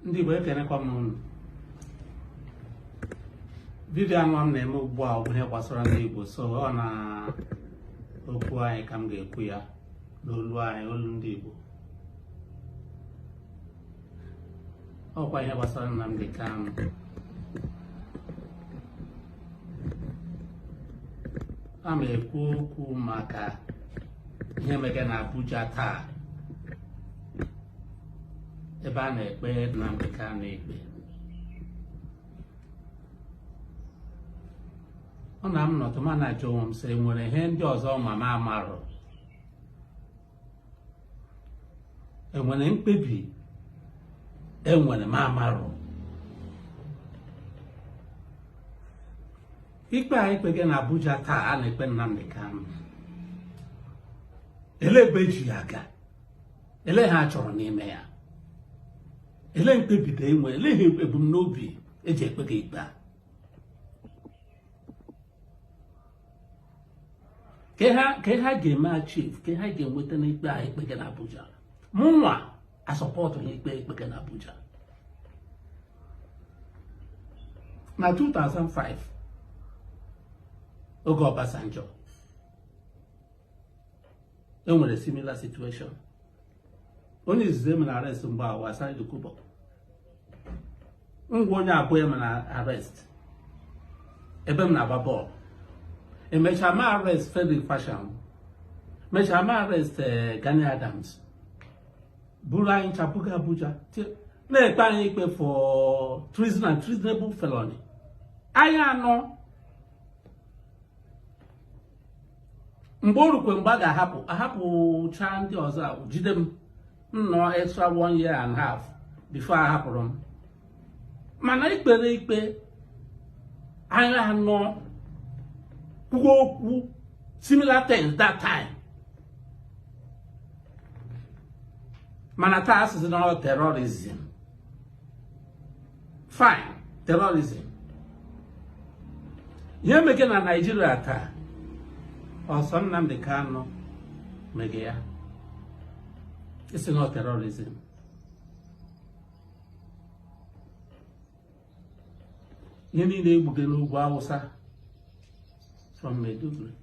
ndị Igbo ekenekwa m unu vidio anụwa m na-eme ugbu a bụ ihe gbasara ndị Igbo so ọ na okwu anyị ka m ga-ekwu ya n'olu anyị olu ndị Igbo ọkwa ihe gbasara Nnamdi Kanu a ma ekwu okwu maka ihe mege na Abuja taa ebe a na-ekpe Nnamdi Kanu ikpe ọ na m nọtụ ma na-ajụ onwe m sị nwere ihe ndị ọzọ ma m amarụ enwere mkpebi enwere m amarụ ikpe a ekpege na Abuja taa a na-ekpe Nnamdi Kanu ele ebe eji ya aga ele ihe achọrọ n'ime ya ele mkpebi ndị enwere ele ihe ebumnobi eji ekpege ikpe a ka ha ga-eme achieve ka ha ga-enweta n'ikpe a ekpege na Abuja mụnwa asọpọtụ ha ikpe ekpege na Abuja na 2005 oge Obasanjo e nwere similar situation onye izizi emere arrest mgbe a wụ Asari Dokubo m wụ onye abụọ emere arrest ebe m na-agba bọọlụ emechaa mee arrest Frederick Fasehun mechaa mee arrest eh, Gani Adams buru anyị ncha buga Abuja na-ekpe anyị ikpe for treason and treasonable felony anyị anọ mgbe o rukwe mgbe a ga-ahapụ ahapụcha ndị ọzọ jide m nnọ extra one year and half before a hapụrụ m mana ekpere ikpe anyị anọ kwuo okwu similar things that time mana taa a sị sị na ọ terrorism fine terrorism ihe mege na Nigeria taa ọ sọ Nnamdi Kanu mege ya ị sị na ọ terrorism ihe niile egbuge n'ugwu awụsa from Maiduguri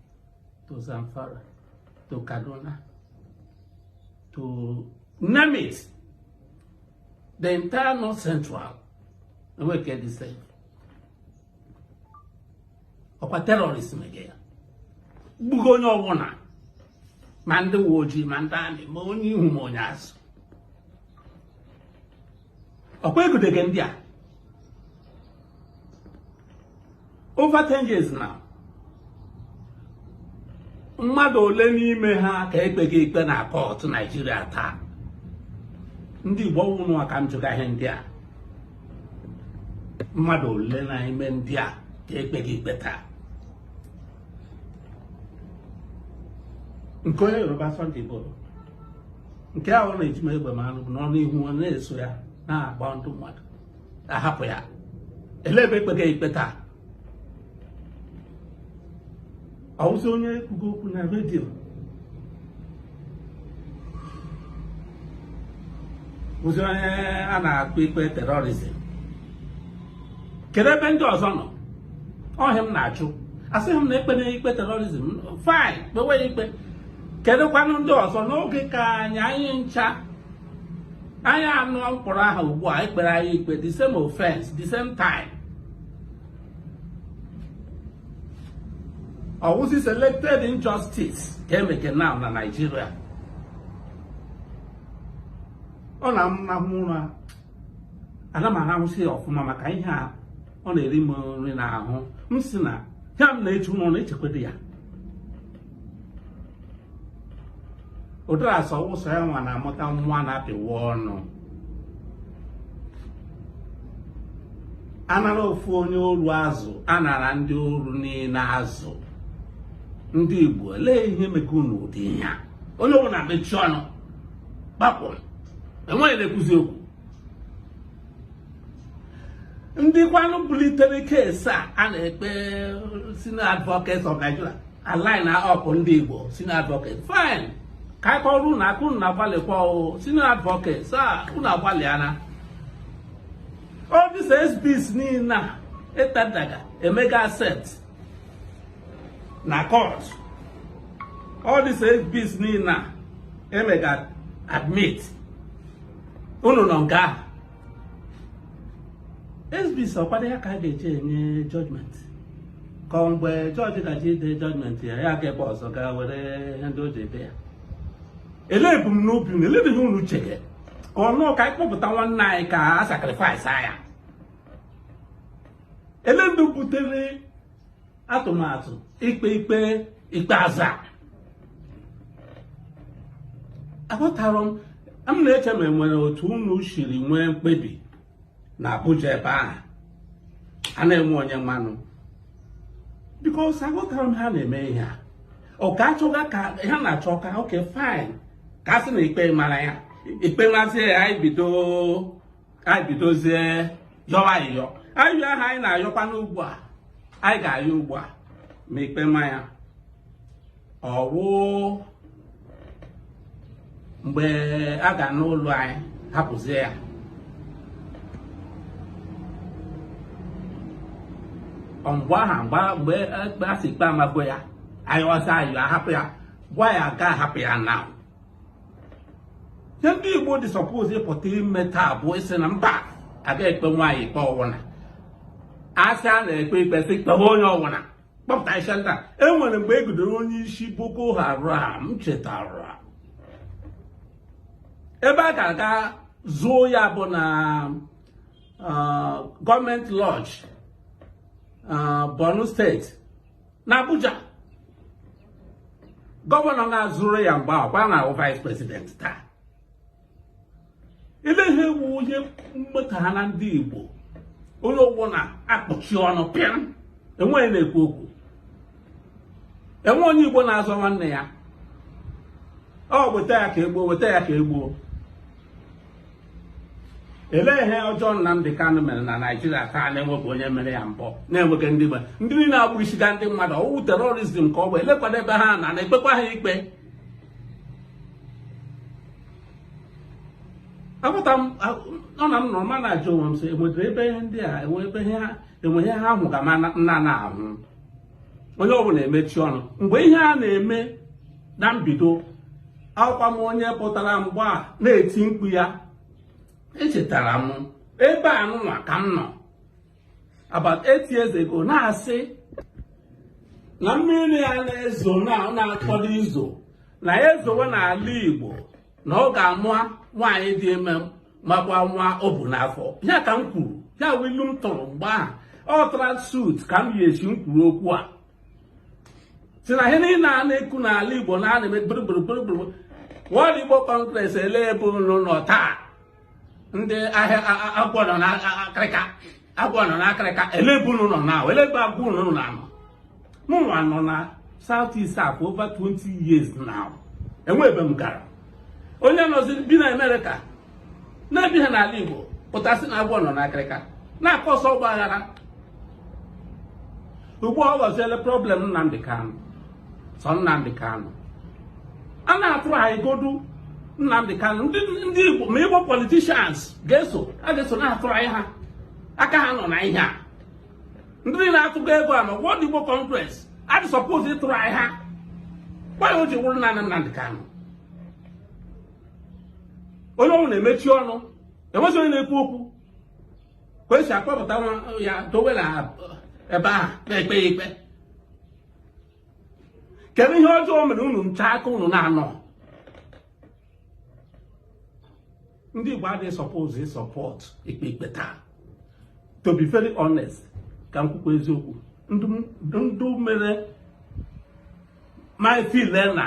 to Zamfara to Kaduna to name it the entire north central enweghị nke dị safe ọkwa terrorist mege ya gbugo onye ọbụla ma ndị uwe ojii ma ndị amị ma onye ihu ma onye azụ ọkwa egudege ndị a over 10 years now mmadụ ole n'ime ha ka ekpeghị ikpe na kọtụ naịjirịa taa ndị igbo wụ unu ka m jụga ihe ndị a mmadụ ole na ime ndị a ka ekpeghị ikpe taa nke onye yoruba sunday igboho nke ahụ na-eji m egbe m anụ bụ n'ọnụ ihu ọ na-eso ya na-agba ndị mmadụ ahapụ ya elee ebe ekpega ikpe taa ọwụzi onye kwugo okwu na redio bụzi onye a na-akpọ ikpe terrorism kedu ebe ndị ọzọ nọ ọ ihe m na-ajụ asịghị m na ekpena ikpe terrorism fine kpewe ikpe kedụkwanụ ndị ọzọ n'oge ka anyị anyị ncha anyị anụ m kpọrọ aha ugbu a ekpere anyị ikpe the same offense the same time ọwụzi selected injustice ka emeke now na Naịjirịa ọ na m rahụ ụra ana m arahụzi ya ọfụma maka ihe a ọ na-eri m nri n'ahụ m sị na ihe m na-eche unu na-echekwado ya ụdara sị ọ wụ sọ ya nwa na-amụta nwa a na-apịwa ọnụ anara ofu onye oru azụ anara ndị oru niile azụ ndị Igbo elee ihe meke unu ụdị ihe a onye ọbụla mechie ọnụ kpakpọ enweghị na-ekwuzi okwu ndị kwanụ bulitere case a a na-ekpe senior advocates of Nigeria a line up ndị Igbo senior advocates fine ka anyị kụọrọ unu aka unu na-agbalịkwa o senior advocates a unu agbalịana all these exhibits niile a etendaga emega accept na court all these exhibits niile a emega admit unu nọ nga ahụ exhibits ọkwadị ya ka a ga-eji enye judgment ka ọ mgbe judge gaji ide judgment ya ya gaa ebe ọzọ gaa were ihe ndị o ji ede ya elee ebumnobi unu elee ihe unu chege ka ọ nụọ ka anyị kpọpụta nwanne anyị ka a sacrifice ya elee ndị butere atụmatụ ikpe ikpe ikpeazụ a aghọtara m m na-eche ma enwere otu unu siri nwee mkpebi na Abuja ebe ahụ a na-enwe onye ma nụ because aghọtara m ha na-eme ihe a ọ ka achọga ka ha na-achọ ka okay fine ka a sị na ikpe mara ya ikpe mazie ya anyị bido anyị bidozie yọwa ayịyọ ayịyọ ahụ anyị na-ayọkwa n'ugbu a anyị ga-ayọ ugbu a ma ikpe ma ya ọ wụ mgbe a ga-anụrụ anyị hapụzie ya mgbe aha a sị ikpe amago ya anyị yọzie ayọ ahapụ ya gwa ya ga ahapụ ya na ihe ndị Igbo dị suppose ịpụta ime taa bụ ịsị na mba aga ekpe nwa anyị ikpe ọwụna asị a na-ekpe ikpe sị kpewe onye ọwụna kpọpụta isi ndị a e nwere mgbe e gidere onye isi Boko Haram chetara ebe a ga-aga zuo ya bụ na government lodge Borno State na Abuja gọvanọ na zuru ya mgbe ahụ kwa na-awụ vice president taa ele ihe wụ ihe mmeta ha na ndị Igbo onye ọbụna akpọchie ọnụ pịm enweghị na-ekwu okwu enwe onye Igbo na-azọ nwanne ya ọ weta ya ka egbuo weta ya ka egbuo elee ihe ọjọọ Nnamdi Kanu mere na Naịjirịa taa na-enweghị onye mere ya mbụ na-enweghị ndị gbe ndị niile na-egbusiga ndị mmadụ ọ wụ terrorism ka ọ bụ elekwanụ ebe ha na na-ekpekwa ha ikpe aghọta m ọ na m nọrọ ma na-ajụ onwe m sị enwedịrị ebe ihe ndị a enwe ihe ha hụga m na-anaghị ahụ onye ọbụla emechi ọnụ mgbe ihe a na-eme na mbido awụkwa m onye pụtara mgbe a na-eti mkpu ya echetara m ebe a nụnwa ka m nọ about eight years ago na-asị na mmiri a na-ezo na ọ na-akwado izo na ya zowe n'ala Igbo na ọ ga-ama nwaanyị dị ime makwa nwa o bu n'afọ ya ka m kwuru ya wụ ilu m tụrụ mgbe ahụ ọ tara suit ka m yi esi m kwuru okwu a sị na ihe niile a na-ekwu n'ala Igbo na a na-eme gburugburu World Igbo Congress ele ebe unu nọ taa ndị ahịa agwọ nọ n'akịrịka agwọ nọ n'akịrịka elebe unu nọ na elebe agwa unu nọ na anọ mụnwa nọ na South East a for over 20 years now enwe ebe m gara onye nọzi bi na Amerịka na-ebiha n'ala Igbo pụta sị na agwọ nọ n'akịrịka na-a cause ọgba aghara ugbu a ọ ghọziele problem Nnamdi Kanu sọ Nnamdi Kanu a na-atụrụ anyị godu Nnamdi Kanu ndị Igbo ma Igbo politicians a ga-eso na-atụrụ anyị ha aka ha nọ na ihe a ndị na-atụgo ego a na World Igbo Congress adị suppose ịtụrụ anyị ha why o ji wụrụ naanị Nnamdi Kanu onye ọwụna emechi ọnụ enwezi onye na-ekwu okwu ka esi akpọpụta ya dowe na ebe ahụ na-ekpe ya ikpe kedu ihe ọjọọ o mere unu ncha ka unu na-anọ ndị Igbo adị suppose ị support ikpe ikpe taa to be very honest ka m kwukwa eziokwu ndụ mere m ị feel na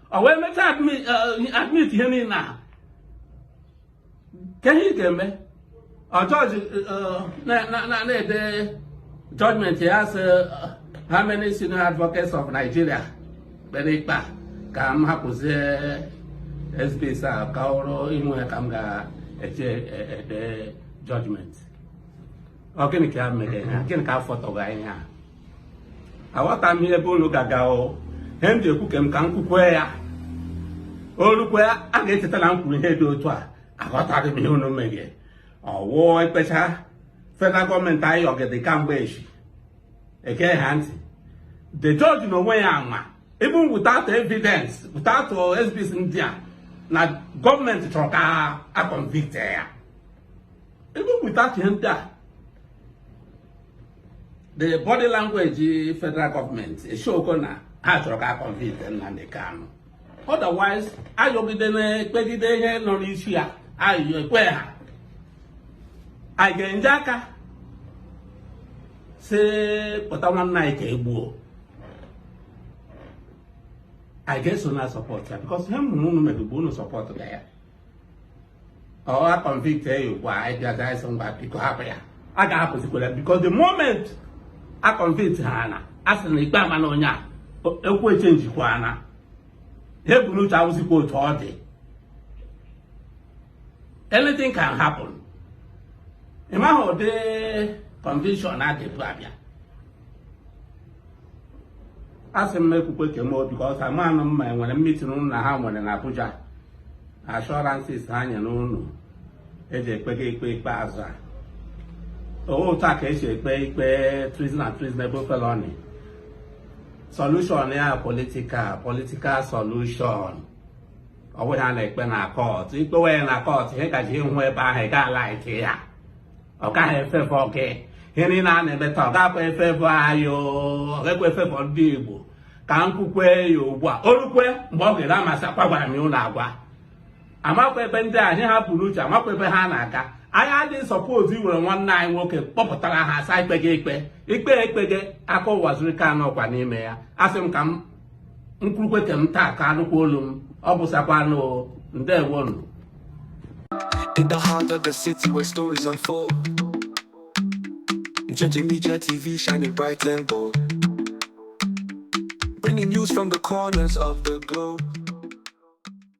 ọ wee mechaa admit ihe niile a kee ihe ị ga-eme judge na-ede judgment ya sị how many senior advocates of Nigeria kpere ikpe a ka m hapụzie exhibits a ka ọrụ inwe ka m ga-eji ede judgment Ọ gịnị ka ya mere ha gịnị ka afọ tọrọ anyị ha aghọta m ihe ebe unu ga-aga o ihe m ji ekwu ka m ka m kwukwe ya o rukwe a ga-echeta na m kwuru ihe dị otu a aghọtaghị m ihe unu mege ọ wụ ekpecha federal government ayọgide kamgbe eshi ege ha ntị the judge na onwe ya ama even without evidence without exhibits ndị a na government chọrọ ka a convict ya even without ihe ndị a the body language federal government e show go na ha chọrọ ka a convict Nnamdi Kanu otherwise ayọgide na-ekpegide ihe nọ n'isi ya ayọ ekwe ha anyị ga-eji aka sepụta nwanne anyị ka e gbuo anyị ga-eso na-a support ya because ihe m hụrụ unu mege bụ unu support ga ya ọ a convict ya ugbu a anyị bịazie anyị sị ngwa biko hapụ ya a ga-ahapụzikwara because the moment a convict ha na a sị na ikpe amana onye a okwu a changekwana ihe e bu n'uche awụzikwa otu ọ dị anything can happen ị maghị ụdị conviction a dị ebu abịa asị m ekwukwe nke m because amanụ m na e nwere meeting ụnụ na ha nwere na Abuja assurances ha nyere ụnụ eji ekpega ikpe ikpeazụ a ọ wụ otu a ka e si ekpe ikpe treason and treasonable felony solution ya political political solution ọ bụghị ihe a na-ekpe na court i kpewe ya na court ihe ị ga-eje ịhụ ebe ahụ ị ga-alike ya ọ gaghị afavour gị ihe niile a na-eme taa ọ gakwa afavour anyị ọ gakwa afavour ndị Igbo ka m kwukwe ya ugbu a o rukwe mgbe ọ ga-eru a ma sịkwa agwaghị m ụnụ agwa amakwa ebe ndị a ihe ha bu n'uche amakwa ebe ha na-aga anyị adịghị supposed iwere nwanne anyị nwoke kpọpụtara ha a sị e kpee gị ikpe ikpe ekpe gị aka Uwazuruike anọkwa n'ime ya asị m ka m kwurukwe nke m taa ka a nụkwa olu m ọ bụsakwanụ ndewonụ In the heart of the city where stories unfold. Njenje Media TV shining bright and bold. Bringing news from the corners of the globe.